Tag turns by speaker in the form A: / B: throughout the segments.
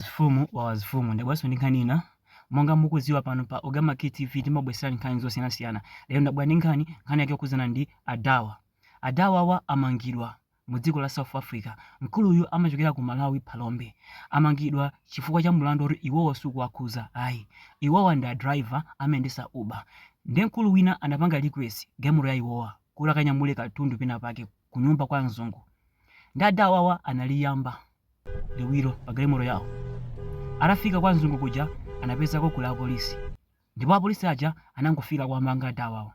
A: Mfumu wa wazifumu ndabweranso ndi nkhani ina monga mukudziwa pano pa Ogama Key TV timabweserani nkhani zosiyanasiyana lero ndabwera ndi nkhani yake yokhudzana ndi adawa adawawa amangidwa mu dziko la South Africa mkuluyu amachokera ku Malawi Phalombe amangidwa chifukwa cha mulandu oti iwowa sukuwakhuza ayi iwowa ndi a driver amayendesa Uber ndi mkulu wina anapanga request galimoto ya iwowa kuti akanyamule katundu pena pake kunyumba kwa mzungu ndi adawawa analiyamba liwiro pa galimoto yawo. Atafika kwa mzungu kuja anapeza kokhala apolisi ndipo apolisi aja anangofika kuwamanga adawawo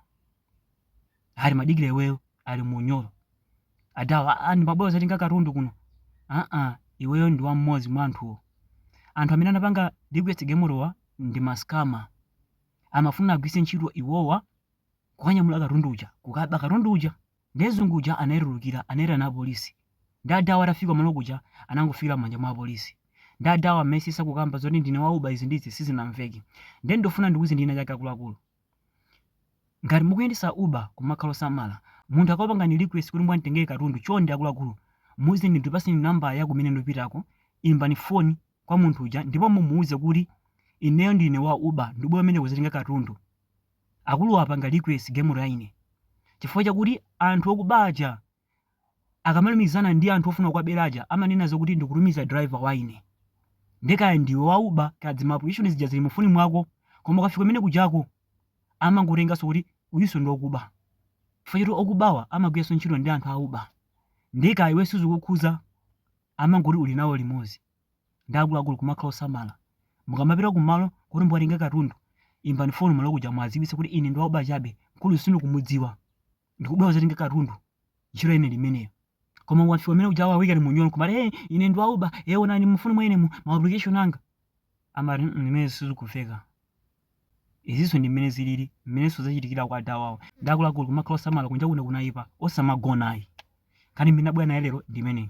A: ali madikira iweyo ali munyolo adawa "Ah, ine ndimabwera kuzatenga katundu kuno aa iweyo ndi wa mmodzi mwa anthuwo anthu amene anapanga request galimotowa ndi maskama amafuna agwirise ntchito iwowa kukanyamula katundu uja kukaba katundu uja Ndiye mzungu uja anaitulukira anaitana apolisi. Ndiye adawa atafika kumalo kuja anangofikira m'manja mwa apolisi. Ndiye adawa amayesesa kukamba zoti ndine wa Uber izi ndi izi sizinamveke. Ndiye ndofuna ndikuuzeni china chake akuluakulu. Ngati mukuyendesa Uber kumakhala osamala. Munthu akakupangani request kuti mukanditengere katundu chonde akuluakulu muuzeni ndipaseni namba ya kumene ndupitako imbani foni kwa munthu uja ndipo mumuuze kuti ineyo ndine wa Uber ndubwera kumeneko kuzatenga katundu. Akuluwa apanga request galimoto ya ine chifukwa chakuti anthu okuba aja akamalumizana ndi anthu ofuna kuwabera aja amanena zokuti ndikutumiza driver wa ine. Nde kaya ndiwe wa uber kaya ma application zija zili mu foni mwako koma ukafika kumene kujako amangotenga zokuti uyunso ndi okuba chifukwa choti okubawa amagwiranso ntchito ndi anthu a uber nde kaya iwe sizikukukhuza. amangoti uli nawo limodzi ndi akuluakulu kumakhala osamala mukamapita ku malo kuti mukatenge katundu imbani foni malo kuja mwadziwitse kuti ine ndi wa Uber chabe mkulu sindikumudziwa ndikubwera kudzatenga katundu ntchito ya ine ndi imeneyo koma wafika kumene kuja akuikani munyolo kumati hey, ine ndi wa Uber hey, onani mu foni mwa ine mu ma application anga amati "Mm, zimenezo sizikumveka izinso ndi mmene zilili mmenenso zachitikira kwa adawawo ndi akuluakulu kumakhala osamala kunja kuno kunayipa osamagona ayi nkhani imene ndabwera nayo lero ndi imeneyi